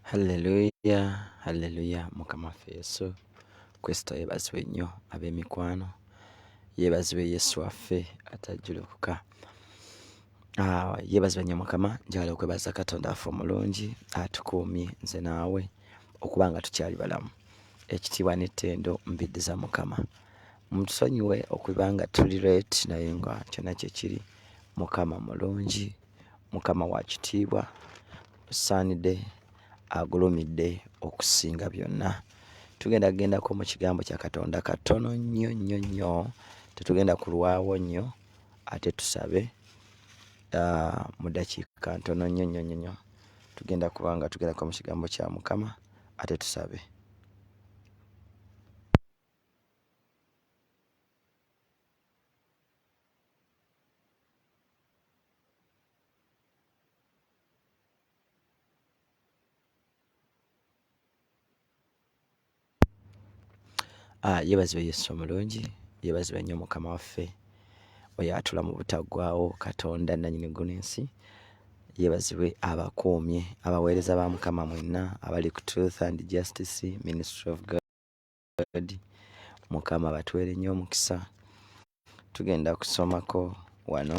Halleluya, halleluya, Mukama waffe Yesu Kristo yeebazibwe nnyo ab'emikwano, yeebazibwe Yesu waffe atajjulukuka. Ah, yeebazibwe nnyo Mukama, njagala okwebaza Katonda waffe omulungi atukuumye nze naawe okuba nga tukyali balamu. Ekitiibwa n'ettendo mbiddiza Mukama. Mutusonyiwe okuba nga tuli late naye nga kyonna kye kiri, Mukama mulungi. Mukama wa kitiibwa, osaanidde, agulumidde okusinga byonna. Tugenda kugendako mu kigambo kya Katonda katono nnyo nnyo nnyo, tetugenda kulwawo nnyo ate tusabe ah, mu dakiika ntono nnyo nnyo nnyo nnyo. Tugenda kuba nga tugendako mu kigambo kya Mukama ate tusabe. Ah, yebazibwe yesu omulungi yebazibwe nnyo mukama waffe oyo atula mu butaggwawo katonda nanyini guno ensi yebazibwe abakuumye abaweereza ba mukama mwenna abali ku truth and justice ministry of god Edward mukama batwere nyo omukisa tugenda kusomako wano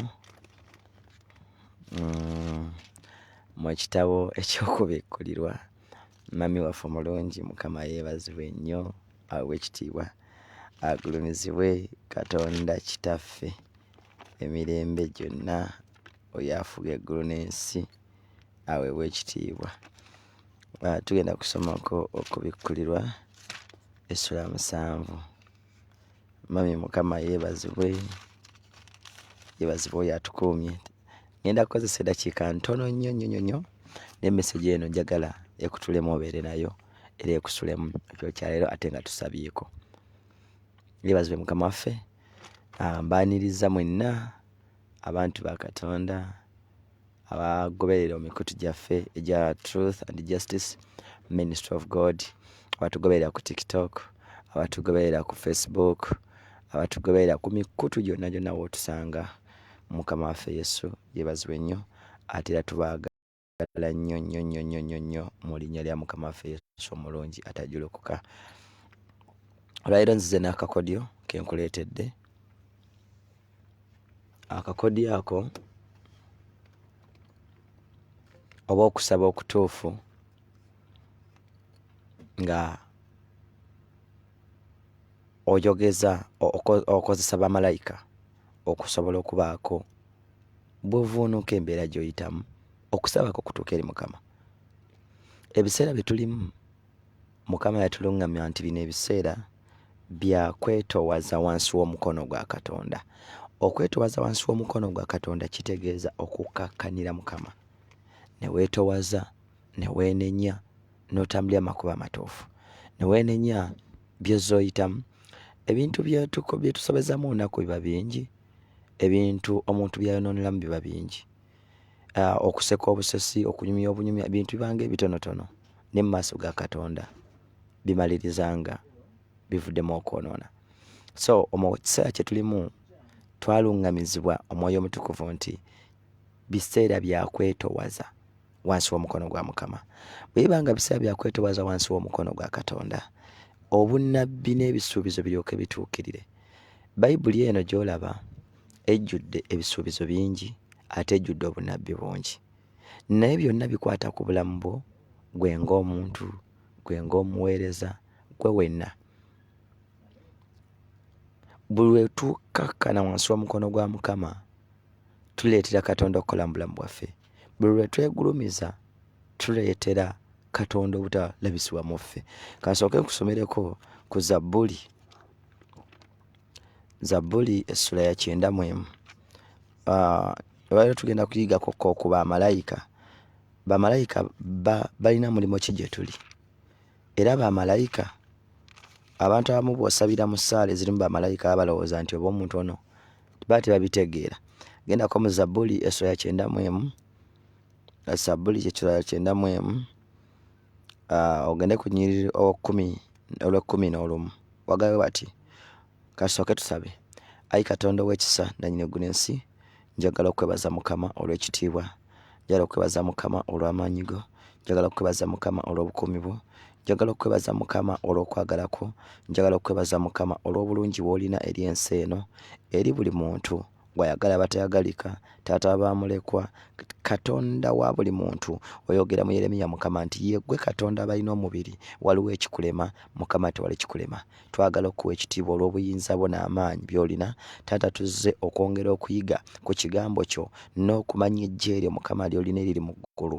mm, mu kitabo ekyokubikkulirwa mami waffe omulungi mukama yeebazibwe nnyo awe ekitiibwa agulumizibwe katonda kitaffe emirembe gyonna oyo afuga eggulu n'ensi aweebwa ekitiibwa nga tugenda kusomako okubikkulirwa essula musanvu. Mummy Mukama yeebazibwe, yeebazibwe oyo atukuumye. Ngenda kukozesa eddakiika ntono nnyo nnyo nnyo nnyo naye mesegi eno njagala ekutulemu obeere nayo era ekusulemu ekyo kya leero ate nga tusabyeko. Yeebazibwe Mukama waffe, ah, mbaaniriza mwenna abantu ba Katonda. abagoberera omikutu gyaffe egya truth and justice ministry of god abatugoberera ku tiktok abatugoberera ku facebook abatugoberera ku mikutu gyonna gyonna wotusanga mukama waffe yesu yebazibwe nnyo ate era tubaagala nnyo nnyo nnyo nnyo nnyo nnyo mu linnya lya mukama waffe yesu omulungi atajulukuka olwaliro nzize n'akakodyo kenkuleetedde akakodyo ako oba okusaba okutuufu nga oyogeza okozesa bamalayika okusobola okubaako bwovuunuka embeera gyoyitamu okusaba kwo kutuuka eri mukama ebiseera byetulimu Mukama yatulungamya nti bino ebiseera bya kwetowaza wansi w'omukono gwa Katonda. Okwetowaza wansi w'omukono gwa Katonda kitegeeza okukkakkanira Mukama ne weetowaza ne weenenya n'otambulira amakubo amatuufu ne weenenya by'ozze oyitamu. Ebintu bye tusobezamu olunaku biba bingi, ebintu omuntu by'ayonooneramu biba bingi. Ah, okuseka obusesi okunyumya obunyumya bintu bibanga ebitonotono ne mu maaso ga katonda bimalirizanga bivuddemu okwonoona so omu kiseera kye tulimu twaluŋŋamizibwa omwoyo omutukuvu nti biseera byakwetowaza wansi w'omukono gwa mukama bwe biba nga biseera byakwetowaza wansi w'omukono gwa katonda obunnabbi n'ebisuubizo biryoke bituukirire bayibuli eno gy'olaba ejjudde ebisuubizo bingi ate ejjudde obunabbi bungi naye byonna bikwata ku bulamu bwo gwe ng'omuntu gwe ng'omuweereza gwe wenna buli wetukakkana wansi w'omukono gwa mukama tuleetera katonda okukola mu bulamu bwaffe buli lwe twegulumiza tuleetera katonda obutalabisibwa mu ffe kansooke nkusomereko ku zabbuli Zabbuli essula ya kyenda mu emu. Ah, leero tugenda kuyigako ko ku bamalayika. Bamalayika ba- balina mulimu ki gye tuli? Era bamalayika abantu abamu bw'osabira mu ssaala ezirimu bamalayika baba balowooza nti oba omuntu ono baba tebabitegeera. Gendako mu Zabbuli essula ya kyenda mu emu. Zabbuli kye sula ya kyenda mu emu. Ogende ku nnyiriri okumi olw'ekkumi n'olumu. Wagabe bati kasooke tusabe. Ayi Katonda ow'ekisa nannyini ggulu ensi, njagala okwebaza Mukama olw'ekitiibwa, njagala okwebaza Mukama olw'amaanyi go, njagala okwebaza Mukama olw'obukuumi bwo, njagala okwebaza Mukama olw'okwagala kwo, njagala okwebaza Mukama olw'obulungi bw'olina eri ensi eno, eri buli muntu. gwayagala abatayagalika taata wabamulekwa katonda wa buli muntu oyogera mu yeremiya mukama nti yegwe katonda abalina omubiri waliwo ekikulema mukama tewali kikulema twagala okuwa ekitiibwa olw'obuyinza bwo n'amaanyi byolina taata tuzze okwongera okuyiga ku kigambo kyo n'okumanya ejjeeryo mukama lyolina eriri mu ggulu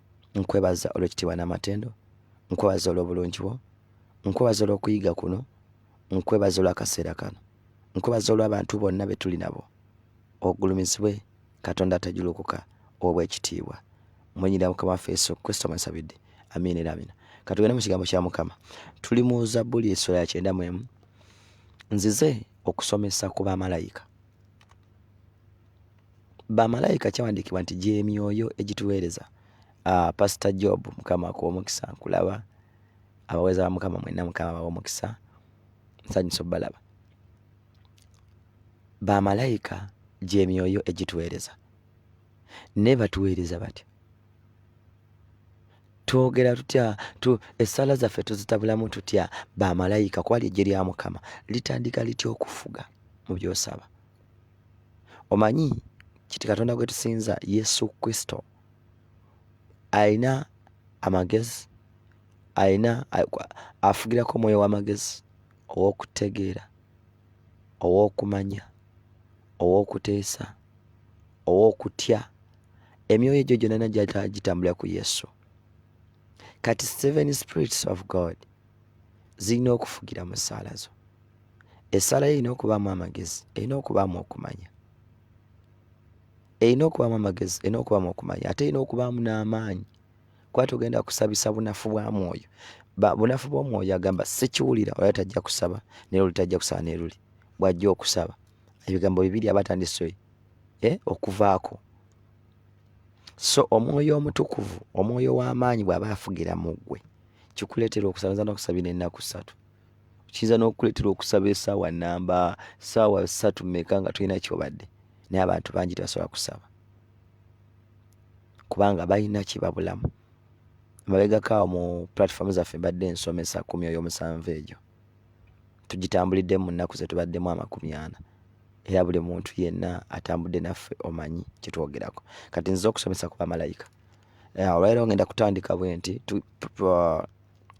nkwebaza olw'ekitiibwa n'amatendo nkwebaza olw'obulungi bwo nkwebaza olw'okuyiga kuno nkwebaza olw'akaseera kano nkwebaza olw'abantu bonna be tuli nabo ogulumizibwe katonda atajulukuka obw'ekitiibwa munyira mukama waffe yesu kristo mwesabidde amiina era amina katugende mu kigambo kya mukama tuli mu zabbuli esula ya kyenda mu emu nzize okusomesa ku bamalayika bamalayika kyawandiikibwa nti gyemyoyo egituweereza uh, pastor job mukama akuwa omukisa nkulaba abaweereza ba mukama mwenna mukama bawa omukisa nsanyusa obalaba bamalayika gyemyoyo egituweereza naye batuweereza batya twogera tutya tu, essaala zaffe tuzitabulamu tutya bamalayika kwali ejje lya mukama litandika litya okufuga mu byosaba omanyi kiti katonda gwe tusinza yesu kristo alina amagezi alina afugirako omwoyo w'amagezi ow'okutegeera ow'okumanya ow'okuteesa ow'okutya emyoyo egyo gyonana gitambulira ku yesu kati seven spirits of god zirina okufugira mu ssaala zo Essala yo erina okubaamu amagezi, erina okubaamu okumanya, erina okubaamu amagezi, erina okubaamu okumanya, ate erina okubaamu n'amaanyi kuba togenda kusabisa bunafu bwa mwoyo. Bunafu bw'omwoyo agamba sikiwulira ola tajja kusaba naye luli tajja kusaba naye luli bw'ajja okusaba ebigambo bibiri aba atandise eh, okuvaako so omwoyo omutukuvu omwoyo w'amaanyi bw'aba afugira mu ggwe kikuleetera okusabaza n'okusabira ennaku ssatu kiyinza n'okukuleetera okusaba esaawa namba saawa satu meka nga tulina kyobadde naye abantu bangi tebasobola kusaba kubanga balina kyebabulamu mabegakaawo mu platform zaffe mbadde ensomesa ku myoyo omusanvu egyo tugitambuliddemu mu nnaku zetubaddemu amakumi ana era buli muntu yenna atambudde naffe omanyi kyetwogerako kati nziza okusomesa ku bamalayika olwaliro ngenda kutandika bwe nti uh,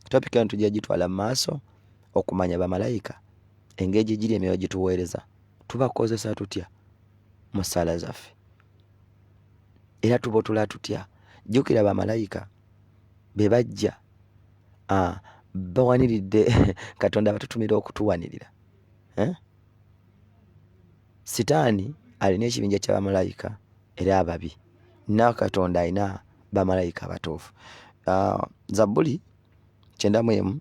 topic eno tujja gitwala mu maaso okumanya bamalayika engeri gye giri emyoyo gituweereza tubakozesa tutya mu ssaala zaffe era tubotula tutya jjukira bamalayika be bajja ah, bawaniridde katonda abatutumira okutuwanirira eh? Sitaani alina ekibinja kya bamalayika era ababi, na Katonda alina bamalayika abatuufu. Ah, Zabbuli kyenda mu emu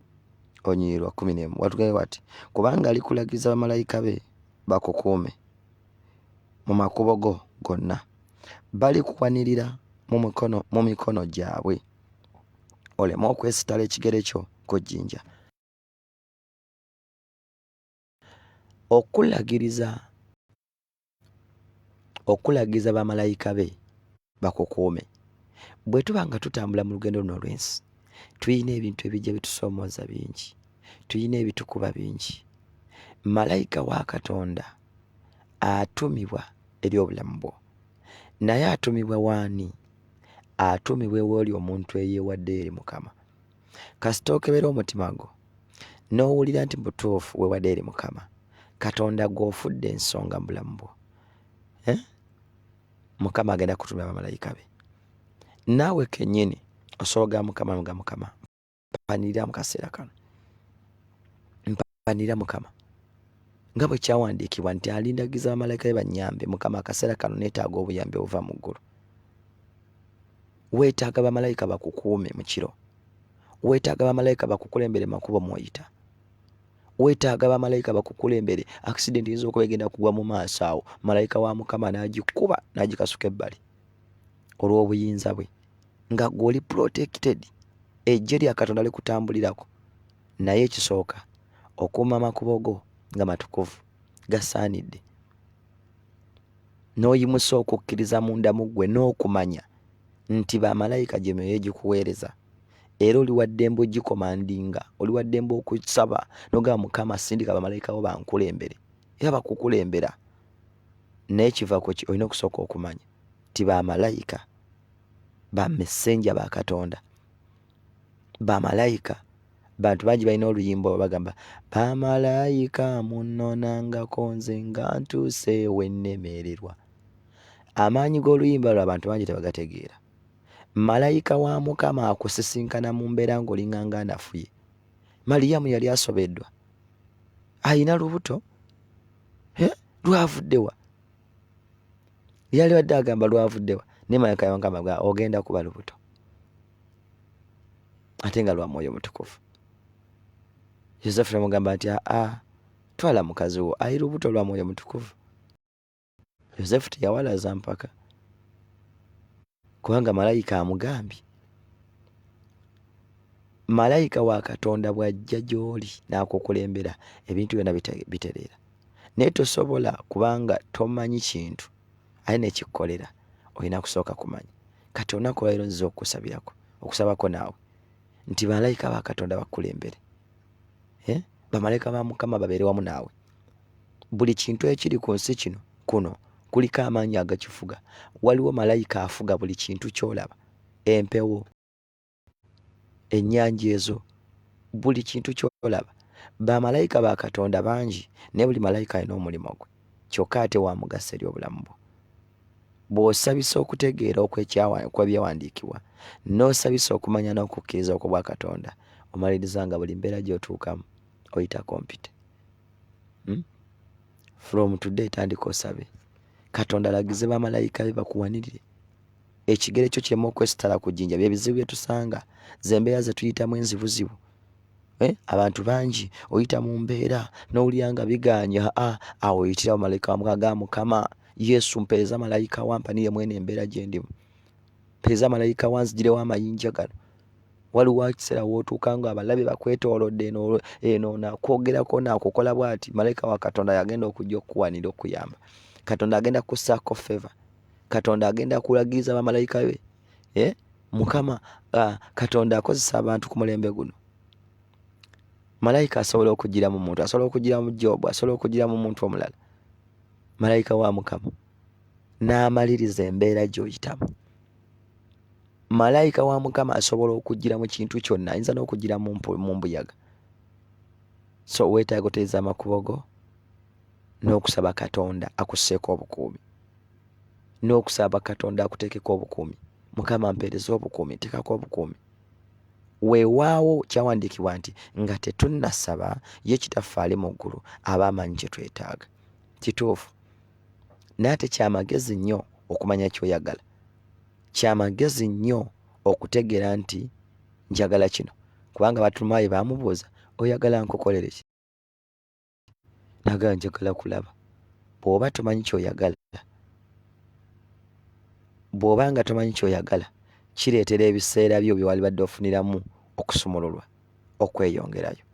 onyiriri lwa kkumi n'emu watugambye bati, kubanga alikulagiza bamalayika be bakukuume mu makubo go gonna, balikuwanirira mu mikono mu mikono gyabwe, oleme okwesitala ekigere kyo ku jjinja. Okulagiriza, okulagiriza bamalayika be bakukuume. Bwe tuba nga tutambula mu lugendo luno olw'ensi, tulina ebintu ebijja bitusoomooza bingi, tulina ebitukuba bingi. Malayika wa Katonda atumibwa eri obulamu bwo, naye atumibwa waani? Atumibwa ew'oli omuntu eyeewaddeyo eri Mukama. kasita okebera omutima gwo n'owulira nti butuufu wewade eri mukama katonda gw'ofudde ensonga mu bulamu bwo eh? mukama agenda kutumira bamalayika be naawe kenyini osobola ga mukama nga mukama mpanirira mu kaseera kano Mpanira Mukama, nga bwe kyawandiikibwa nti, Alindagiza bamalayika be bannyambe. Mukama, akaseera kano neetaaga obuyambi obuva mu ggulu. Weetaaga bamalayika bakukuume mu kiro. Weetaaga bamalayika bakukulembere makubo mw'oyita. Weetaaga bamalayika bakukulembere akisidenti eyinza okuba egenda kugwa mu maaso awo, malayika wa Mukama n'agikuba n'agikasuka ebbali olw'obuyinza bwe, nga gw'oli protected, eggye lya Katonda likutambulirako. Naye ekisooka, okuuma amakubo go nga matukuvu, gasaanidde, n'oyimusa okukkiriza munda mu ggwe n'okumanya nti bamalayika gye myoyo egikuweereza era oli waddembe ogikomandinga oli waddembe okusaba nogamba mukama sindika bamalayika bo bankulembere era bakukulembera naye kiva ku ki olina okusooka okumanya nti bamalayika ba messenja ba katonda bamalayika bantu bangi balina oluyimba oba bagamba bamalayika munnonangako nze nga ntuuse wennemererwa amaanyi g'oluyimba lwo abantu bangi tebagategeera malayika wa mukama akusisinkana mu mbeera ng'olinganga anafuye maliyamu yali asobeddwa alina lubuto lwavuddewa yali wadde agamba lwavuddewa naye malayika yawangamba ga ogenda kuba lubuto ate nga lwa mwoyo mutukuvu yosefu namugamba nti aa twala mukazi wo ali lubuto lwa mwoyo mutukuvu yosefu teyawalaza mpaka kubanga malayika amugambye malayika wa katonda bw'ajja gy'oli n'akukulembera ebintu byonna bitereera naye tosobola kubanga tomanyi kintu aye nekikkolera olina kusooka kumanya kati olunaku lwaliro nziza okukusabirako okusabako naawe nti malayika ba katonda bakukulembere eh? bamalayika ba mukama babeere wamu naawe buli kintu ekiri ku nsi kino kuno kuliko amaanyi agakifuga waliwo malayika afuga buli kintu kyolaba empewo ennyanja ezo buli kintu kyolaba bamalayika ba katonda bangi naye buli malayika alina omulimu gwe kyokka ate wamugasa eri obulamu bwo bw'osabisa okutegeera okwebyawandiikibwa n'osabisa okumanya n'okukkiriza okwo bwa katonda omaliriza nga buli mbeera gy'otuukamu oyita kompyuta hmm? from today tandika osabe katonda alagize bamalayika be bakuwanirire ekigere kyo kirema okwesitala ku jjinja byebizibu byetusanga zembeera zetuyitamu enzibuzibu eh? abantu bangi oyita mu mbeera nowulira nga biganye aa awo oyitira bamalayika wamukaga mukama yesu mpeereza malayika wampaniye mwene embeera gyendimu mpeereza malayika wanzijirewo amayinja gano waliwo ekiseera wootuuka nga abalabe bakwetoolodde eno nakwogerako nakukola bwati malayika wa katonda yagenda okujja okukuwanira okuyamba katonda agenda kusaako feva katonda agenda kulagiriza bamalayika be eh? mukama ah, katonda akozesa abantu ku mulembe guno malayika asobola okugira mu muntu asobola okugira mu jobu asobola okugira mu muntu omulala malayika wa mukama n'amaliriza embeera gy'oyitamu malayika wa mukama asobola okujjira mu kintu kyonna ayinza n'okujjira mu mbuyaga so weetaaga oteeza amakubo go n'okusaba katonda akusseeko obukuumi n'okusaba katonda akuteekeko obukuumi mukama mpeereza obukuumi nteekako obukuumi weewaawo kyawandiikibwa nti nga tetunnasaba ye kitaffe ali mu ggulu aba amanyi kye twetaaga kituufu naye ate kyamagezi nnyo okumanya kyoyagala kya magezi nnyo okutegeera nti njagala kino kubanga Battulumaayi baamubuuza oyagala nkukolere ki nagala njagala kulaba bw'oba tomanyi ky'oyagala bw'oba nga tomanyi ky'oyagala kireetera ebiseera byo bye walibadde ofuniramu okusumululwa okweyongerayo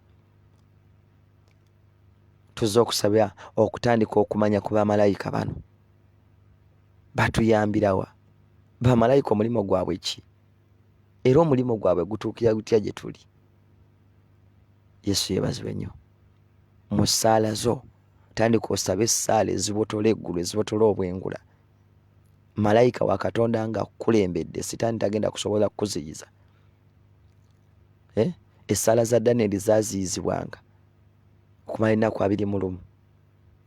tuzze okusabira okutandika okumanya ku bamalayika bano Batuyambira wa? Bamalayika omulimu gwabwe ki? Era omulimu gwabwe gutuukira gutya gye tuli? Yesu yeebazibwe nnyo. Mu ssaala zo tandika osabe essaala ezibotola eggulu ezibotola obwengula malayika wa katonda nga akukulembedde sitaani tagenda kusobola kukuziyiza eh? essaala za danieli zaziyizibwanga okumala ennaku abiri mu lumu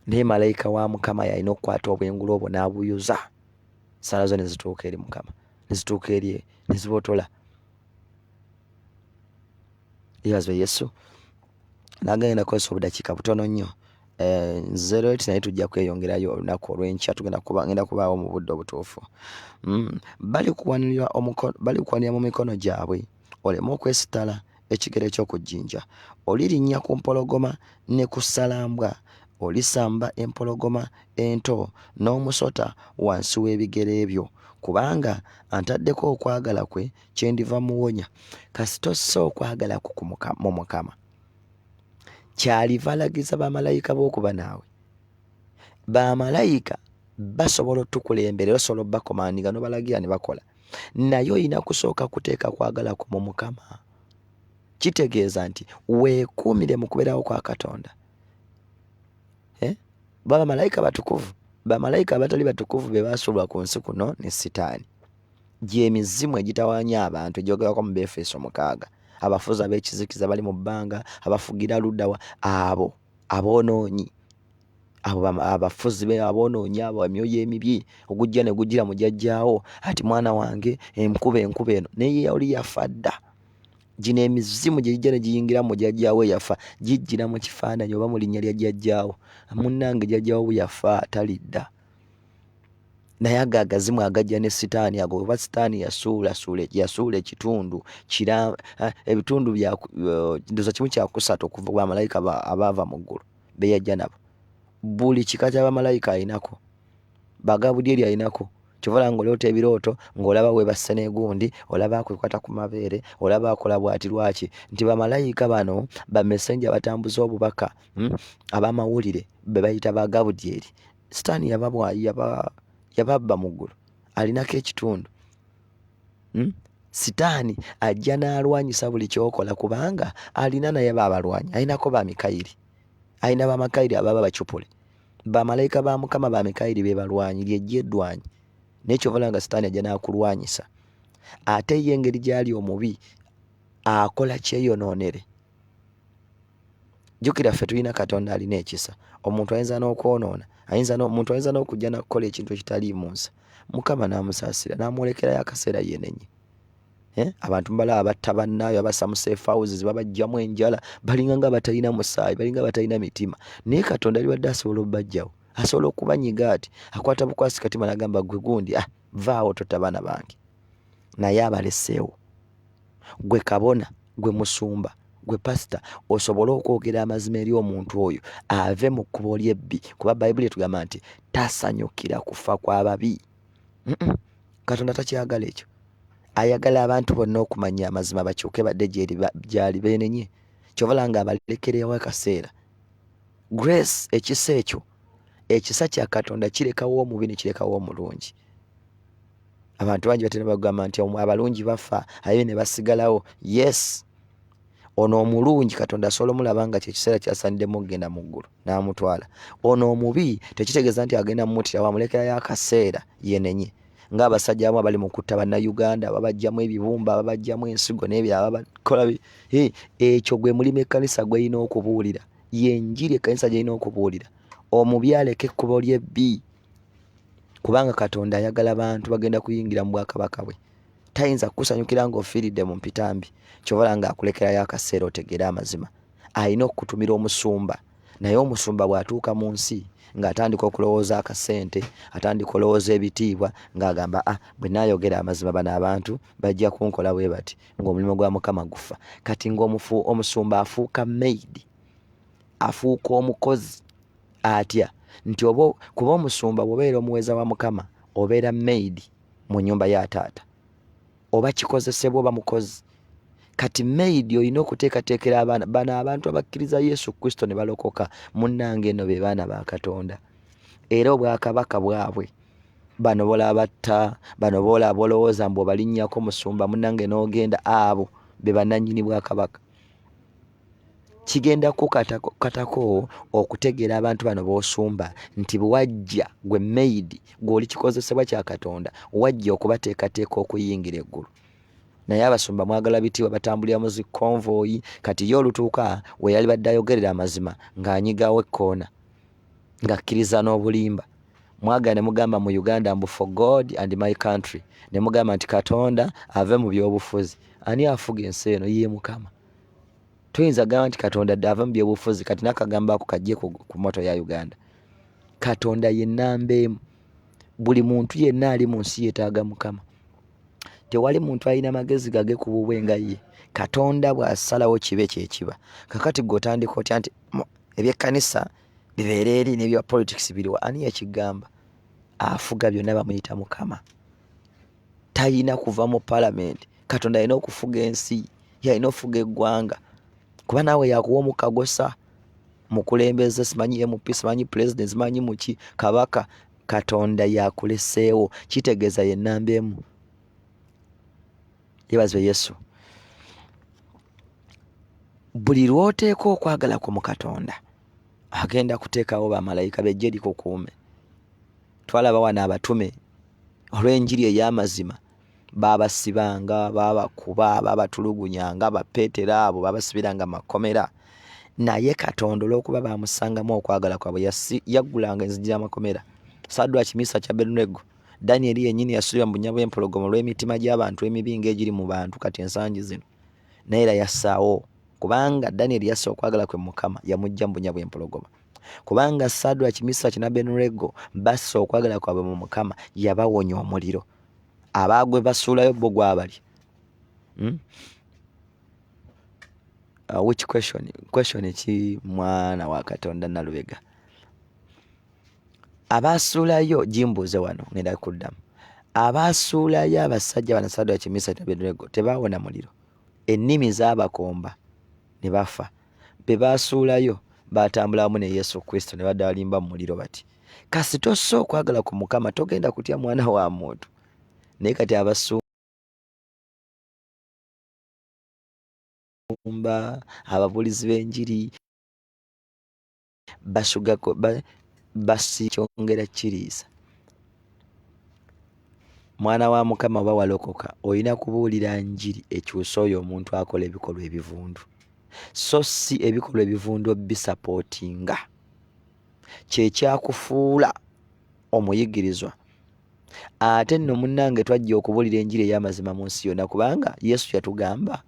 Naye malayika wa Mukama yalina okukwata obwengula obwo n'abuyuza, ssaala zo ne zituuka eri Mukama, ne zituuka eri ne zibotola. Yeebazibwe Yesu. Nange ngenda kukozesa obudakiika butono nnyo eh, zero eight naye tujja kweyongerayo olunaku olw'enkya tugenda kuba ngenda kubaawo mu budde obutuufu. Hmm, bali kuwanirira mu mikono gyabwe oleme okwesittala ekigero eky'oku jjinja olirinnya ku mpologoma ne ku ssalambwa olisamba empologoma ento n'omusota wansi w'ebigere byo kubanga antaddeko okwagala kwe kyendiva muwonya kasita ossa okwagala ku mu mukama kyaliva alagiza bamalayika b'okuba naawe bamalayika basobola otukulembera osobola obakomandinga nobalagira ne bakola naye olina kusooka kuteeka kwagala ku mu mukama kitegeeza nti weekuumire mu kubeerawo kwa katonda eh? bamalayika batukuvu bamalayika abatali batukuvu be baasuulwa ku nsi kuno ne sitaani gyemizimu egitawanya abantu egyogerako mu befeso mukaaga abafuzi ab'ekizikiza bali mu bbanga abafugira luddawa abo aboonoonyi abo abafuzi be aboonoonyi abo emyoyo emibi ogujja ne gujjira mu jajjaawo ati mwana wange enkuba enkuba eno naye yali yafa dda gino emizimu gye gijja ne giyingira mu jajjaawo eyafa gijjira mu kifaananyi oba mu linnya lya jajjaawo munnange jajjaawo bwe yafa talidda naye ago agazimu agajja ne sitaani ago oba sitaani yasuulasuula yasuula ekitundu kira eh, ebitundu bya eh, ndoza kimu kyakusatu okuva bamalayika abaava mu ggulu beyajja nabo buli kika kya bamalayika alinako bagabudyeri alinako kyovala nga oloota ebirooto ngaolaba webasse negundi olaba akwekwata ku mabeere olaba akola bwati lwaki nti bamalayika bano bamesenja batambuza obubaka hmm? abamawulire bebayita bagabudyeri sitaani yababwa yababba muggulu alinako ekitundu hmm? sitaani ajja n'alwanyisa buli kyokola kubanga alina naye baabalwanya alinako ba mikayiri alina bamakayiri ababa bacupule bamalayika ba mukama ba mikayiri be balwanyi lyejja eddwanyi naye kyovala nga sitaani ajja n'akulwanyisa ate ye engeri gyali omubi akola kyeyonoonere jjukira ffe tulina katonda alina ekisa omuntu ayinza n'okwonoona ayinza omuntu ayinza n'okujja nakukola ekintu ekitaliimu nsa mukama n'amusaasira n'amwolekerayo akaseera yenenye eh? abantu mubala abatta bannaayo abasamuseefawuzi zibabajjamu enjala balinga nga batalina musaayi balinga batalina mitima naye katonda aliwadde asobola obubajjawo asobola okubanyiga ati akwata bukwasi katima nagamba gwe gundi ah vaawo tota baana bange naye abaleseewo gwe kabona gwe musumba gwe pasita osobole okwogera amazima eri omuntu oyo ave mu kkubo lyebbi kuba bayibuli etugamba nti tasanyukira kufa kwababi katonda takyagala ekyo ayagala abantu bonna okumanya amazima bakyuke badde gyali benenye kyovala nga abalekerewo akaseera grace ekisa ekyo ekisa kya katonda kirekawo omubi nekirekawo omulungi abantu bangi batera bagamba nti abalungi bafa aye ne basigalawo yes ono omulungi katonda asobola omulaba nga kyekiseera kyasanidemu okugenda mu ggulu n'amutwala ono omubi tekitegeeza nti agenda mumutirawo amulekerayo akaseera yenenye ng'abasajja abamu abali mu kutta bannayuganda babajjamu ebibumba babajjamu ensigo n'ebirala babakola ekyo gwe mulimu ekkanisa gweyina okubuulira yenjiri ekkanisa gyalina okubuulira omubi aleka ekkubo lyebbi kubanga katonda ayagala bantu bagenda kuyingira mu bwakabaka bwe tayinza kukusanyukira ng'ofiiridde mu mpitambi kyobola nga akulekerayo akaseera otegeere amazima alina okukutumira omusumba naye omusumba bw'atuuka mu nsi ng'atandika okulowooza akasente atandika olowooza ebitiibwa ng'agamba a ah, bwe naayogera amazima bano abantu bajja kunkola bwe bati ng'omulimu gwa mukama gufa kati ng'omufu omusumba afuuka maid afuuka omukozi atya nti oba kuba omusumba bwobeera omuweza wa mukama obeera maid mu nyumba ya taata oba kikozesebwa oba mukozi kati maid olina okuteekateekera abaana bano abantu abakkiriza yesu kristo ne balokoka munnanga eno be baana ba katonda era obwakabaka bwabwe bano bolabatta bano bola bolowooza mbu obalinnyako musumba munange n'ogenda abo be bananyini bwa kabaka kigenda kukatako okutegeera abantu bano b'osumba nti bwajja gwe maidi gweoli kikozesebwa kya katonda wajja okubateekateeka okuyingira eggulu naye abasumba mwagala bitiibwa batambulira mu zikonvoyi kati ye olutuuka weyali badde ayogerera amazima ng'anyigawo ekkoona ngakkiriza n'obulimba mwaga ne mugamba mu uganda mbu for god and my country ne mugamba nti katonda ave mu byobufuzi ani afuga ensi eno ye mukama tuyinza gamba nti katonda ave mu byobufuzi kati nakagamba ako kajje ku moto ya uganda katonda ye namba emu buli muntu yenna ali mu nsi yetaaga mukama tewali muntu alina magezi gage ku bubwe nga ye katonda bw'asalawo kibe kyekiba kakati gwe otandika otya nti ebyekkanisa bibeera eri n'ebya politics biriwa ani yakigamba afuga byonna bamuyita mukama talina kuva mu palamenti katonda alina okufuga ensi yalina okufuga eggwanga kuba naawe yakuwa omukagosa mukulembeze simanyi mp simanyi pulezidenti simanyi muki kabaka katonda yakuleseewo kitegeeza yenamba emu yebazibwe yesu buli lwoteeka okwagala ku mu katonda agenda kuteekawo bamalayika bejje likukuume twalaba wano abatume olw'enjiri ey'amazima baabasibanga baabakuba baabatulugunyanga bapeetera abo baabasibiranga makomera naye katonda olw'okuba baamusangamu okwagala kwabwe yaggulanga enzigi y'amakomera sadwaki misa kya berunego ya Danyeri yennyini yasuubira mu bunya bw'empologoma olw'emitima gy'abantu emibi ng'egiri mu bantu kati ensangi zino, naye era yassaawo kubanga Danyeri yassa okwagala kwe Mukama yamuggya mu bunya bw'empologoma. Kubanga Sadraki, Misaki n'Abenureego bassa okwagala kwabwe mu Mukama, yabawonya omuliro. Abaagwe basuulayo bo gwabali. Hmm? Uh, which question? Question ki mwana wa Katonda Nalubega? abaasuulayo gimbuuze wano ngenda kuddamu abaasuulayo abasajja bana sadoa kimisa tabenego tebaawona muliro ennimi zaabakomba ne bafa be baasuulayo baatambula wamu ne yesu kristo ne badalimba mu muliro bati kasita ossa okwagala ku mukama togenda kutya mwana wa muntu naye kati abasumba ababuulizi b'enjiri basugako basikyongera kiriisa mwana wa mukama oba walokoka olina kubuulira njiri ekyusa oyo omuntu akola ebikolwa ebivundu so si ebikolwa ebivundu obisapootinga kyekyakufuula omuyigirizwa ate nno munnange twajja okubuulira enjiri ey'amazima mu nsi yonna kubanga yesu yatugamba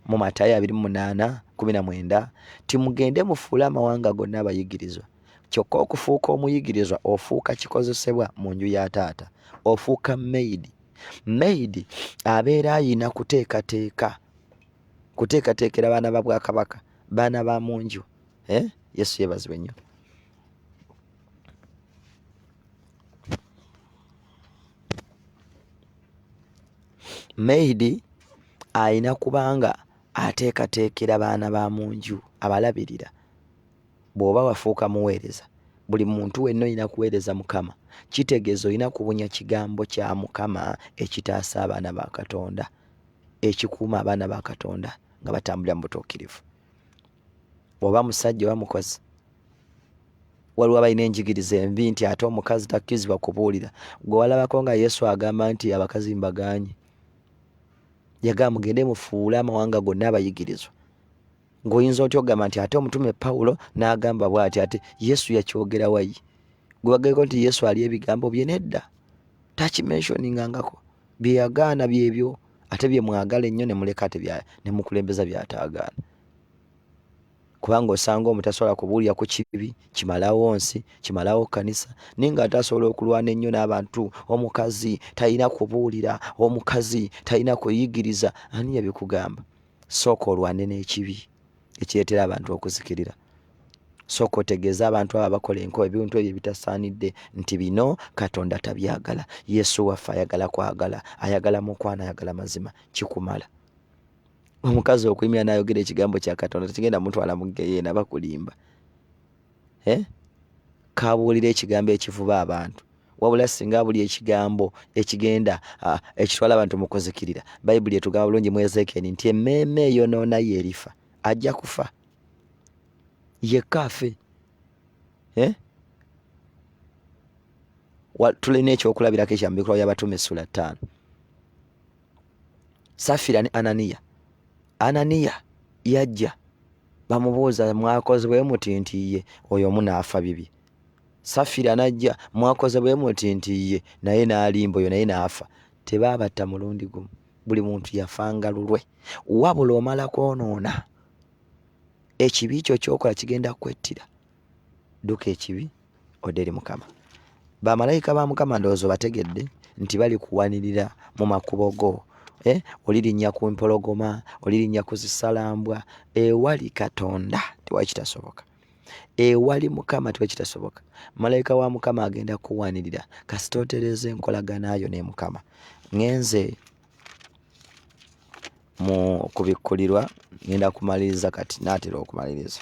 mu matayo abiri mu munaana kumi na mwenda nti mugende mufuule amawanga gonna abayigirizwa kyokka okufuuka omuyigirizwa ofuuka kikozesebwa mu nju ya taata ofuuka maidi maidi abeera ayina kuteekateeka kuteekateekera baana ba bwakabaka baana ba mu nju eh? yesu yebazibwe nnyo Maid alina kubanga ateekateekera baana ba mu nju, abalabirira. Bw'oba wafuuka muweereza, buli muntu wenna olina kuweereza Mukama. Kitegeeza olina kubunya kigambo kya Mukama ekitaasa abaana ba Katonda, ekikuuma abaana ba Katonda nga batambulira mu butuukirivu. oba musajja oba mukozi waliwo abalina enjigiriza envi nti ate omukazi takkirizibwa kubuulira gwe walabako nga yesu agamba nti abakazi mbaganye yagamba mugende mufuule amawanga gonna abayigirizwa ng'oyinza otya okugamba nti ate omutume pawulo n'agamba bwati ate yesu yakyogera wayi gwe bageko nti yesu ali ebigambo bye nedda takimenshoningangako bye yagaana byebyo ate bye mwagala ennyo ne muleka tenemukulembeza byataagaana kubanga osanga omu tasobola kubuulira ku kibi kimalawo nsi kimalawo kkanisa naye nga ate asobola okulwana ennyo n'abantu omukazi talina kubuulira omukazi talina kuyigiriza ani yabikugamba sooka olwane n'ekibi ekireetera abantu okuzikirira sooka otegeeze abantu abo abakola enko ebintu ebyo ebitasaanidde nti bino katonda tabyagala yesu waffe ayagala kwagala ayagala mukwano ayagala mazima kikumala omukazi okuyimira nayogera ekigambo kya katonda tekigenda mutwala mu geyeena bakulimba eh? kabuulira ekigambo ekivuba abantu wabula singa buli ekigambo ekigenda ah, ekitwala abantu mu kuzikirira bayibuli etugamba bulungi mu ezekeeni nti emmeeme eyonoona ye erifa ajja kufa yekka afe eh? tulina ekyokulabirako ekyamubikulawo yabatume esula ttaano safira ne ananiya ananiya yajja bamubuuza mwakoze bwe muti nti ye oyo omu naafa bibye safira najja mwakoze bwe muti nti ye naye n'alimba oyo naye n'afa tebaabatta mulundi gumu buli muntu yafanga lulwe wabula omala kwonoona ekibi kyo kyokola kigenda kwettira duka ekibi odde eri mukama bamalayika ba mukama ndowooza obategedde nti bali kuwanirira mu makubo go eh? olirinnya ku mpologoma olirinnya ku zisalambwa ewali katonda tewali kitasoboka ewali mukama tewali kitasoboka malayika wa mukama agenda kuwanirira kasita otereza enkolaganayo ne mukama ngenze mu kubikkulirwa ngenda kumaliriza kati naatera okumaliriza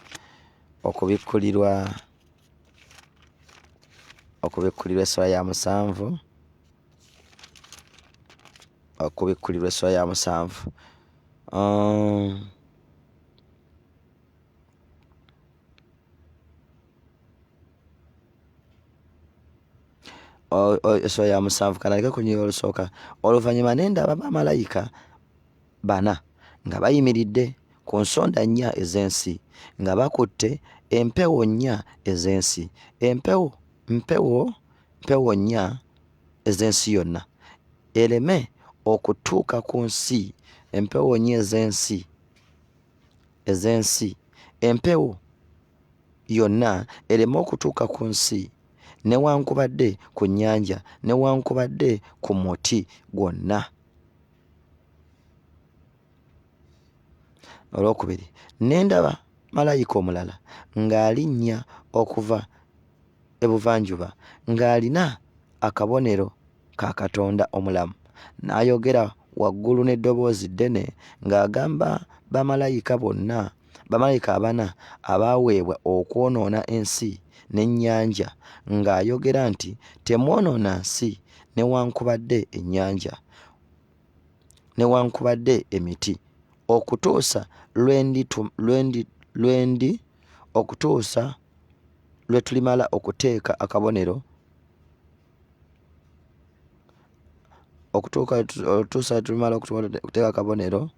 okubikkulirwa okubikkulirwa essula ya musanvu okubikkulirwa essula ya musanvu um, essula ya musanvu kanaleke ku nyiga olusooka oluvannyuma nendaba bamalayika bana nga bayimiridde ku nsonda nnya ez'ensi nga bakutte empewo nnya ez'ensi empewo mpewo mpewo nnya ez'ensi yonna ereme okutuuka ku nsi empewo nnya ez'ensi ez'ensi empewo yonna ereme okutuuka ku nsi newankubadde ku nnyanja newankubadde ku muti gwonna olwokubiri ne ndaba malayika omulala ng'alinnya okuva ebuvanjuba ng'alina akabonero ka katonda omulamu n'ayogera waggulu n'eddoboozi ddene ng'agamba bamalayika bonna bamalayika abana abaaweebwa okwonoona ensi n'ennyanja ng'ayogera nti temwonoona nsi newankubadde ennyanja newankubadde emiti okutuusa lwendi okutuusa lwe tulimala okuteeka akabonero okutuuka otuusa tumala okuteeka akabonero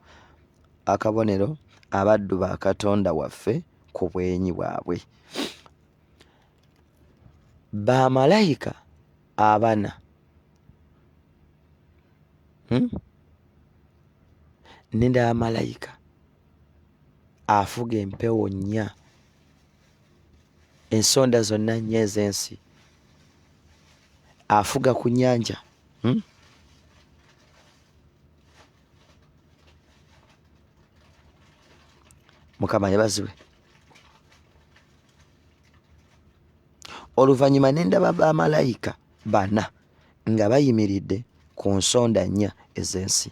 akabonero abaddu ba katonda waffe ku bwenyi bwabwe bamalayika abana hmm? nenda malayika afuga empewo nnya ensonda zonna nnyo ez'ensi afuga ku nyanja hmm? mukama yebaziwe oluvannyuma ne ndaba bamalayika bana nga bayimiridde ku nsonda nnya ez'ensi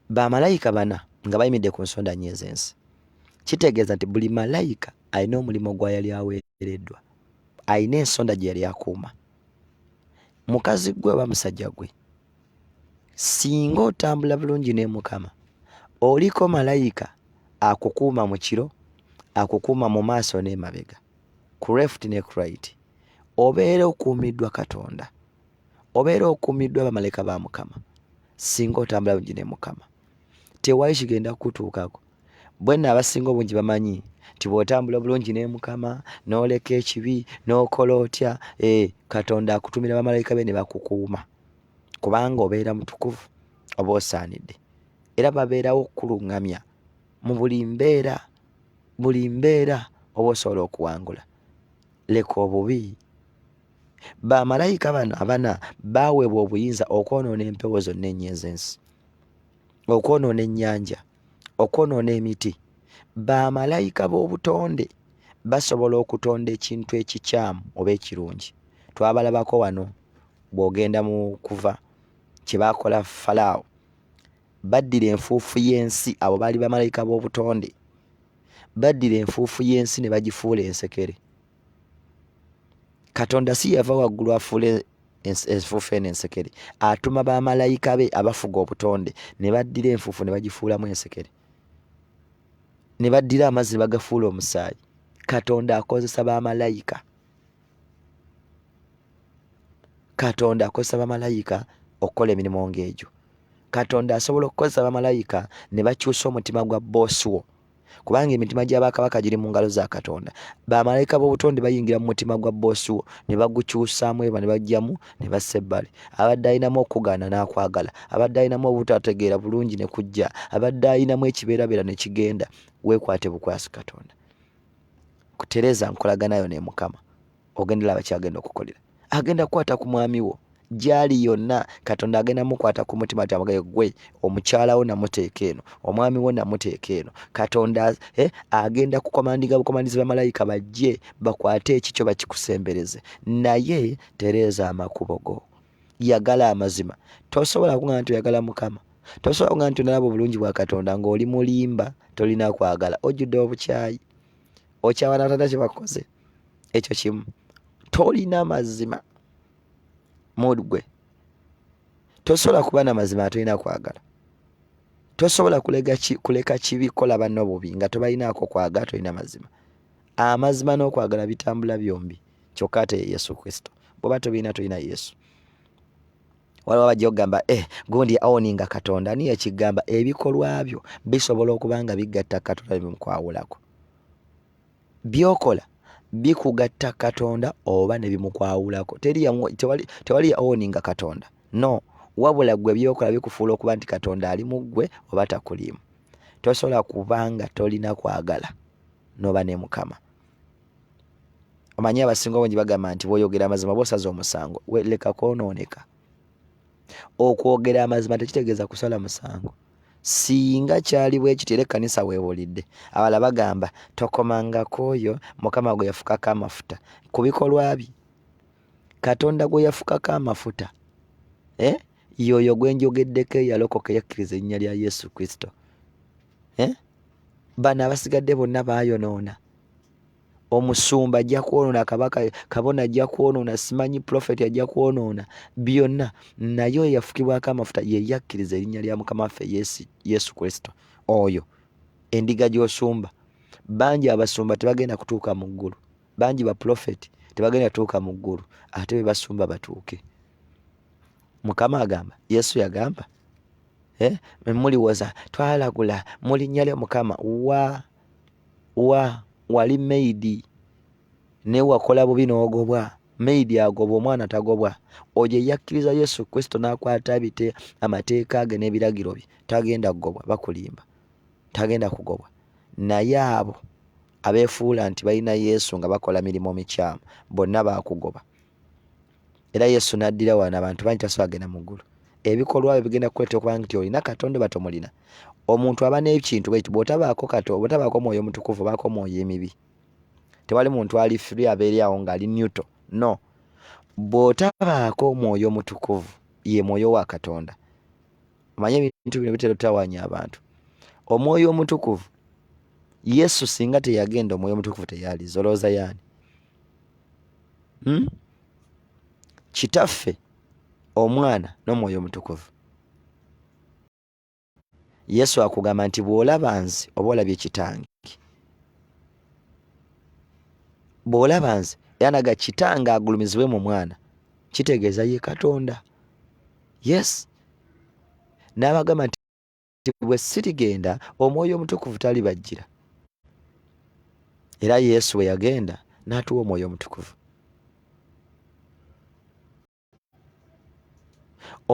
bamalayika bana nga bayimidde ku nsonda nnya ez'ensi kitegeeza nti buli malayika alina omulimu gwa yali aweereddwa alina ensonda gye yali akuuma mukazi gwe oba musajja gwe singa otambula bulungi ne mukama oliko malayika akukuuma mu kiro akukuuma mu maaso n'emabega ku left ne ku right obeera okuumiddwa katonda obeera okuumiddwa abamaleka ba mukama singa otambula bungi ne mukama tewali kigenda kukutuukako bwenna abasinga obungi bamanyi nti bw'otambula obulungi ne mukama n'oleka ekibi n'okola otya e katonda akutumira bamalayika be ne bakukuuma kubanga obeera mutukuvu oba osaanidde era babeerawo okukuluŋŋamya mu buli mbeera buli mbeera oba osobola okuwangula leka obubi bamalayika bano abana baweebwa obuyinza okwonoona empewo zonna enyo ezensi okwonoona ennyanja okwonoona emiti bamalayika b'obutonde basobola okutonda ekintu ekikyamu oba ekirungi twabalabako wano bw'ogenda mu kuva kye baakola falaawo baddira enfuufu y'ensi abo baali bamalayika b'obutonde baddira enfuufu y'ensi ne bagifuula ensekere katonda si yava waggulu afuula enfuufu eno ensekere atuma bamalayika be abafuga obutonde ne baddira enfuufu ne bagifuulamu ensekere ne baddira amazzi ne bagafuula omusaayi katonda akozesa bamalayika katonda akozesa bamalayika okukola emirimu ng'egyo katonda asobola okukozesa bamalayika ne bakyusa omutima gwa boosi wo kubanga emitima gya bakabaka giri mu ngalo za katonda bamalayika b'obutonde bayingira mu mutima gwa boosi wo ne bagukyusaamu eba ne bajjamu ne bassa ebbali abadde alinamu okugaana n'akwagala abadde alinamu obutategeera bulungi ne kujja abadde alinamu ekibeerabeera ne kigenda weekwate bukwasi katonda kutereza nkolaganayo ne mukama ogenda laba kyagenda okukolera agenda kukwata ku mwami wo gyali yonna katonda agenda mukwata ku mutima ti amugee gwe omukyala wo namuteeka eno omwami wo namuteeka eno katonda eh, agenda kukomandiga bukomandizi bamalayika bajje bakwate ekikyo bakikusembereze naye tereeza amakubo go yagala amazima tosobola kugaa nti oyagala mukama tosobola kugaa nti onalaba obulungi bwa katonda ngaoli mulimba tolina kwagala ojjudde obukyayi okyawana tata kyebakoze ekyo kimu tolina mazima mood gwe tosobola kuba na mazima atolina kwagala tosobola kuleka kibi kola banno bubi nga tobalinaako kwagala tolina mazima amazima n'okwagala bitambula byombi kyokka ate yesu kristo bwoba tobirina tolina yesu waliwo bajja okugamba eh, gundi awoninga katonda niye ekigamba ebikolwa byo bisobola okuba nga bigatta katonda bimukwawulako byokola bikugatta katonda oba nebimukwawulako tewali owninga katonda no wabula gwe byokola bikufuula okuba nti katonda ali mu ggwe oba takuliimu tosobola kubanga tolina kwagala noba ne mukama omanyi abasinga obungi bagamba nti bwoyogera amazima bosaza omusango weleka kwonooneka okwogera amazima tekitegeeza kusala musango singa kyali bwe kityo era ekkanisa weewulidde abala bagamba tokomangako oyo mukama gwe yafukako amafuta ku bikolwa bye katonda gwe yafukako amafuta eh? yoyo gwe njogeddeko eyalokoka eyakkiriza erinnya lya yesu kristo eh? bano abasigadde bonna baayonoona omusumba ajja kwonoona kabaka kabona ajja kwonoona simanyi profeti ajja kwonoona byonna naye oyo yafukibwako amafuta yeyakkiriza erinnya lya mukama waffe yesu kristo oyo endiga gy'osumba bangi abasumba tebagenda kutuuka mu ggulu bangi baprofeti tebagenda kutuuka mu ggulu ate be basumba batuuke mukama agamba yesu yagamba eh, muliwoza twalagula mulinnya lya mukama wa wa wali maid naye wakola bubi n'ogobwa maid agobwa omwana tagobwa oyo eyakkiriza yesu kristo n'akwata abite amateeka ge n'ebiragiro bye tagenda kugobwa bakulimba tagenda kugobwa naye abo abeefuula nti balina yesu nga bakola mirimu mikyamu bonna baakugoba Era Yesu n'addira wano abantu bangi tasobola genda mu ggulu. Ebikolwa byo bigenda kukuleeta okuba nti olina Katonda oba tomulina. Omuntu aba n'ekintu bwe kiti bw'otabaako Katonda, bw'otabaako mwoyo mutukuvu obaako mwoyo emibi. Tewali muntu ali free aba eri awo ng'ali neutral. No. Bw'otabaako mwoyo mutukuvu, ye mwoyo wa Katonda. Omanye ebintu bino bitera otawanya abantu. Omwoyo omutukuvu, Yesu singa teyagenda omwoyo omutukuvu teyaliza. Olowooza yaani? hmm? kitaffe omwana n'omwoyo omutukuvu yesu akugamba nti bw'olaba nze oba olabye kitange bw'olaba nze yanaga kitange agulumizibwe mu mwana kitegeeza ye katonda yes n'abagamba nti nti bwe sirigenda omwoyo omutukuvu talibajjira era yesu bwe yagenda n'atuwa omwoyo omutukuvu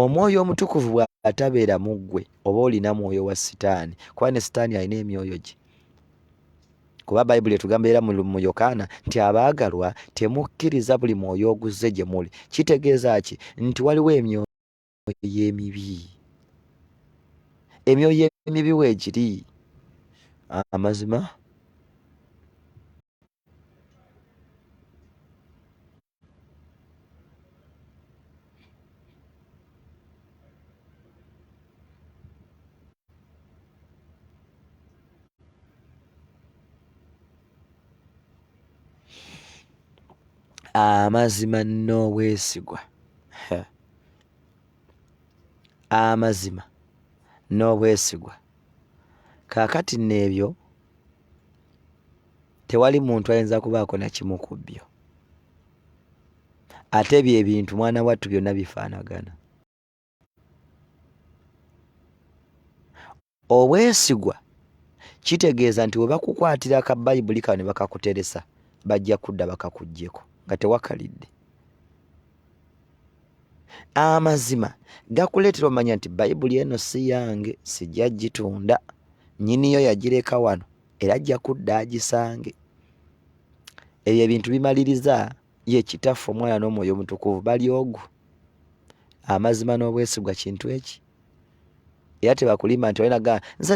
omwoyo omutukuvu bw'atabeera mu ggwe oba olina mwoyo wa sitaani kuba ne sitaani alina emyoyo gye kuba bayibuli etugamba era mu yokaana nti abaagalwa temukkiriza buli mwoyo oguzze gye muli kitegeeza ki nti waliwo emyoyo emyoyo emibi emyoyo emibi weegiri amazima amazima n'obwesigwa amazima n'obwesigwa kaakati nno ebyo tewali muntu ayinza kubaako na kimu ku byo ate bye bintu mwana wattu byonna bifaanagana obwesigwa kitegeeza nti webakukwatira ka bayibuli kano ne bakakuteresa bajja kudda bakakuggyeko nga tewakalidde amazima gakuleetera omanya nti bayibuli eno si yange sijja gitunda nyiniyo yagireka wano era ajja kudda agisange ebyo ebintu bimaliriza ye kitaffe omwana n'omwoyo omutukuvu bali ogu amazima n'obwesigwa kintu eki era tebakulimba nti olina gaa nze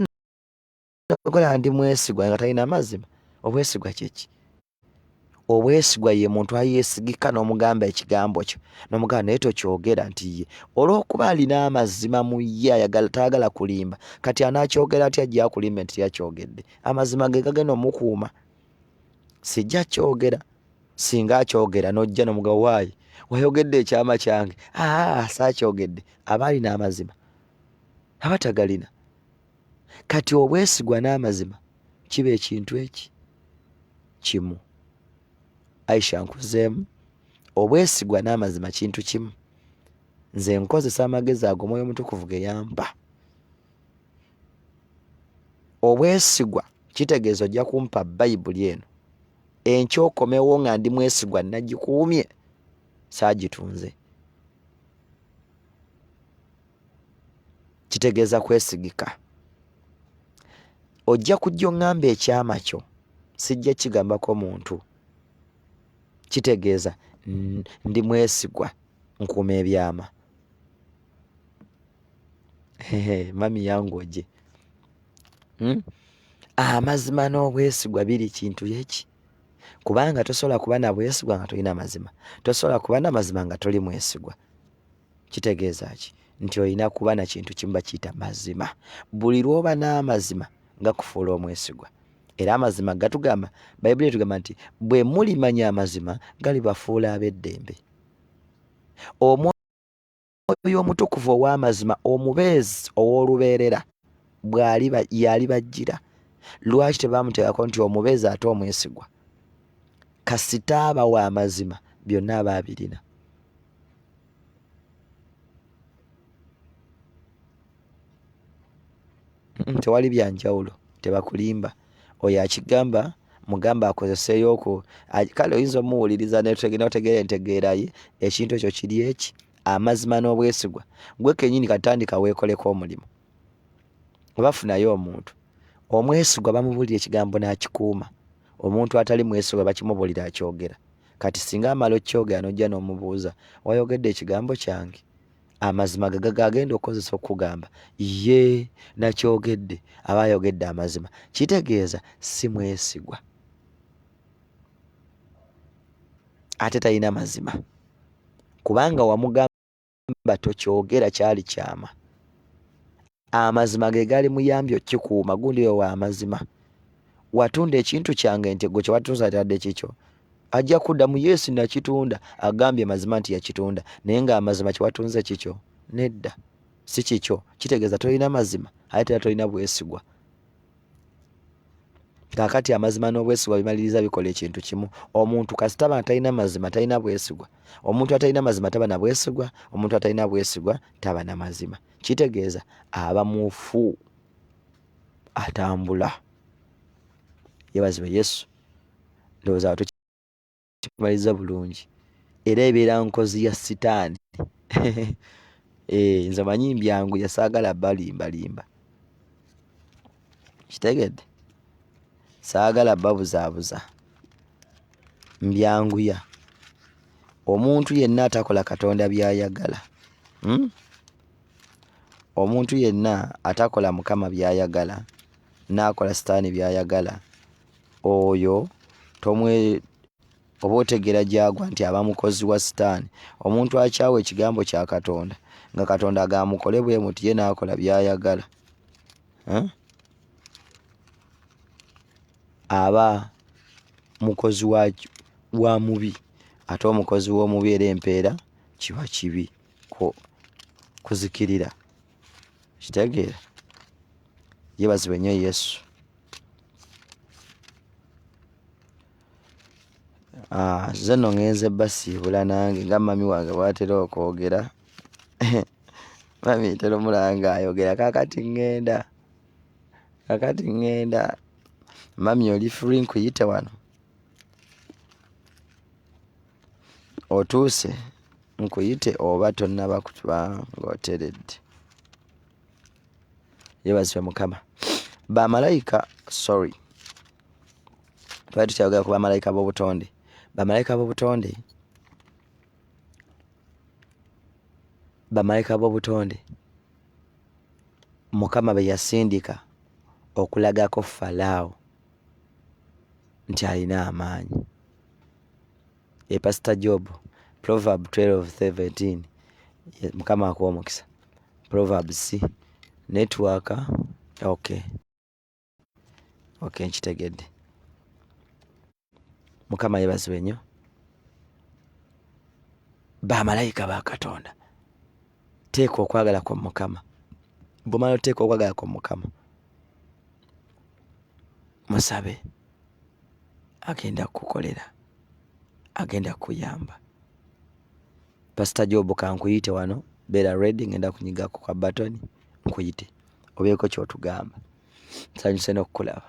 nagala ndi mwesigwa nga talina amazima obwesigwa kyeki obwesigwa ye muntu ayesigika n'omugamba ekigambo kyo n'omugamba naye tokyogera nti ye olw'okuba alina amazima mu ye ayagala tayagala kulimba kati anaakyogera atya gyakulimba nti yakyogedde amazima ge gagenda omukuuma sijja kyogera singa akyogera nojja nomuga waayi wayogedde ekyama kyange aa saakyogedde aba alina amazima aba tagalina kati obwesigwa n'amazima kiba ekintu eki kimu aisha nkuzeemu obwesigwa n'amazima kintu kimu nze nkozesa amagezi ago omwoyo omutukuvu ge yampa obwesigwa kitegeeza ojja kumpa bayibuli eno enkya okomewo nga ndi mwesigwa nagikuumye saagitunze kitegeeza kwesigika ojja kujja oŋŋamba ekyama kyo sijja kigambako muntu kitegeeza ndi mwesigwa nkuuma ebyama mami yangu oje hmm? amazima n'obwesigwa biri kintu yeki kubanga tosobola kuba na bwesigwa nga tolina mazima tosobola kuba na mazima nga toli mwesigwa kitegeeza ki nti olina kuba na kintu kimu bakiyita mazima buli lwoba n'amazima nga kufuula omwesigwa era amazima gatugamba bayibuli etugamba nti bwe mulimanya amazima galibafuula ab'eddembe omwoyo omutukuvu ow'amazima omubeezi ow'olubeerera bwali yali bajjira lwaki tebaamuteekako nti omubeezi ate omwesigwa kasita aba wa mazima byonna aba abirina tewali byanjawulo tebakulimba oyo akigamba mugamba akozeseyo oku kale oyinza omuwuliriza notegeera entegeeraye ekintu ekyo kiri eki amazima n'obwesigwa gwe kenyini katandika weekoleko omulimu obafunayo omuntu omwesigwa bamubuulira ekigambo n'akikuuma omuntu atali mwesigwa bakimubuulira akyogera kati singa amala okyogera nojja n'omubuuza wayogedde ekigambo kyange amazima gagaga agenda okukozesa okukugamba ye nakyogedde aba ayogedde amazima kitegeeza si mwesigwa ate talina mazima kubanga wamugamba tokyogera kyali kyama Amazima ge gali muyambi okikuuma gundi oyo wa mazima. Watunda ekintu kyange nti gwe kyewatunza atadde kikyo ajja kuddamu yesu nakitunda agambye mazima nti yakitunda naye nga amazima kyewatunze kikyo nedda si kikyo kitegeeza tolina mazima aye tera tolina bwesigwa kakati amazima n'obwesigwa bimaliriza bikola ekintu kimu omuntu kasitaba atalina mazima talina bwesigwa omuntu atalina mazima taba na bwesigwa omuntu atalina bwesigwa taba na mazima kitegeeza aba mufu atambula yebazibwe yesu ndowooza watu kimaliza bulungi era ebeera nkozi ya sitaani eh, nze manyi mbyangu yasaagala balimbalimba kitegedde saagala babuzaabuza mbyanguya omuntu yenna atakola katonda byayagala hmm? omuntu yenna atakola mukama byayagala naakola sitaani byayagala oyo tomwe oba otegera gyagwa nti aba mukozi wa sitaani omuntu akyawa ekigambo kya katonda nga katonda agamukole bwe muti ye naakola byayagala eh? aba mukozi wa wa mubi ate omukozi w'omubi era empeera kiba kibi kuzikirira kitegeera yebaziba nnyo yesu Ah, nze no ngenze basiibula nange nga mami wange bwatera okwogera Mummy ntera omulaba ng'ayogera kaakati ŋŋenda, kaakati ŋŋenda. Mummy oli free nkuyite wano? Otuuse nkuyite oba tonnaba kuba ng'oteredde? Yeebazibwe Mukama. Bamalayika, sorry. Twali tukyayogera ku bamalayika b'obutonde. Bamalayika b'obutonde. bamalayika b'obutonde mukama be yasindika okulagako falaawo nti alina amaanyi e pasita job proverb 12:17 mukama akuwa omukisa proverbs network okay ok nkitegedde mukama yebazibwe nnyo bamalayika ba katonda teeka okwagala kwa mukama bumala oteeka okwagala kwa mukama musabe agenda kukukolera agenda kuyamba Pastor Job kankuyite wano beera ready ngenda kunyigako ka button nkuyite obeeko kyotugamba nsanyuse nokukulaba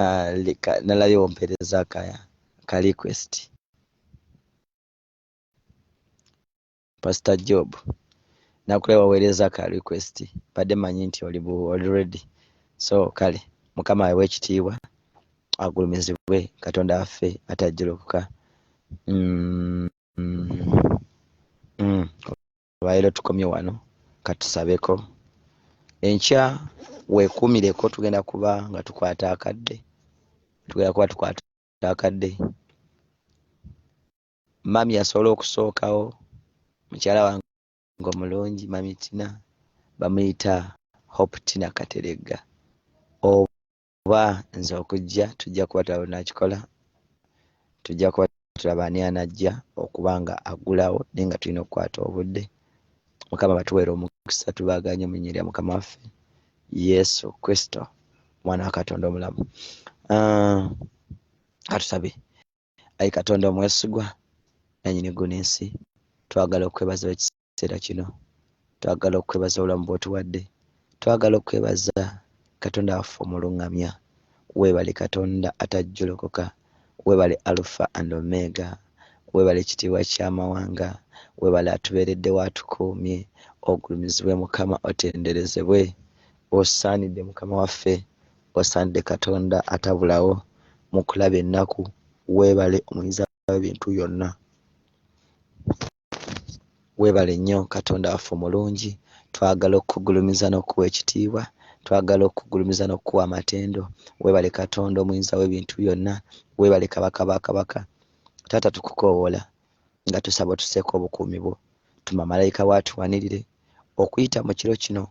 Ah, leka nalayo ompereza ka, ka request pastor job nakulaba waweereza ka request badde manyi nti oli oli ready so kale mukama awewe ekitiibwa agulumizibwe katonda waffe atajjulukuka mm, mm, mm. abaero tukomye wano katusabeko enkya wekuumireko tugenda kuba nga tukwata akadde tugenda kuba tukwata akadde mami yasobola okusookawo mukyala wange omulungi mami tina bamuyita hope tina kateregga kuba nze okujja tujja kuba tulaba nakikola tujja kuba tulaba ani anajja okuba nga aggulawo naye nga tulina okukwata obudde mukama batuweera omukisa tubaganye mu nyirya mukama waffe yesu kristo omwana wa katonda omulamu ah, katusabe uh, ayi katonda omwesigwa nanyini ggulu n'ensi twagala okwebaza ekiseera kino twagala okwebaza obulamu bwotuwadde twagala okwebaza katonda waffe omuluŋŋamya weebale katonda atajjolokoka weebale alufa and omega weebale ekitiibwa ky'amawanga weebale atubeereddewo atukuumye ogulumizibwe mukama otenderezebwe osaanidde mukama waffe Wasaanidde Katonda atabulawo mu kulaba ennaku, weebale omuyinza w'ebintu yonna. Weebale nnyo Katonda waffe omulungi, twagala okukugulumiza n'okukuwa ekitiibwa, twagala okukugulumiza n'okukuwa amatendo. Weebale Katonda omuyinza w'ebintu yonna, weebale Kabaka ba kabaka. Taata tukukoowoola, nga tusaba otuseeko obukuumi bwo tuma malayika wo atuwanirire okuyita mu kiro kino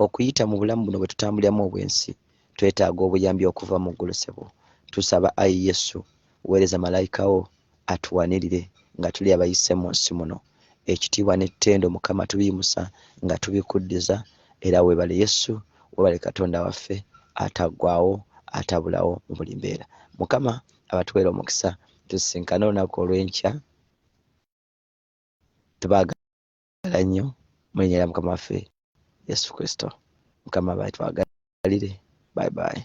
okuyita mu bulamu buno bwe tutambuliramu obwensi twetaaga obuyambi okuva mu ggulu sebo tusaba ayi yesu weereza malayika wo atuwanirire nga tuli abayise mu nsi muno ekitiibwa n'ettendo mukama tubiyimusa nga tubikuddiza era webale yesu webale katonda waffe ataggwawo atabulawo mu buli mbeera mukama abatuweera omukisa tusisinkane olunaku olw'enkya tubaagala nnyo mu linnya lya mukama waffe yesu kristo mukama bae twagalire bye bye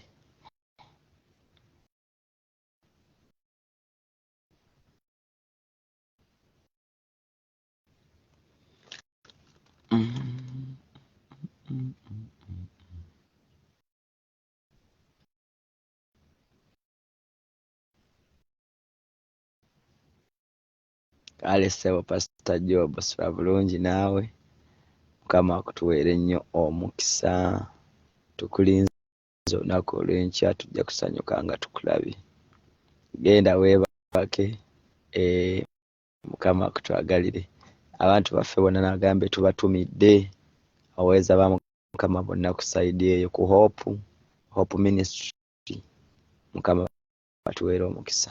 kale ssebo pasita job sula bulungi naawe mukama akutuweere nnyo omukisa tukulinze olunaku olwenkya tujja kusanyuka nga tukulabye genda weebake eh, mukama akutwagalire abantu baffe bona nagambe tubatumidde aweeza bamukama bonna ku saidi eyo ku hope hope ministry mukama batuweera omukisa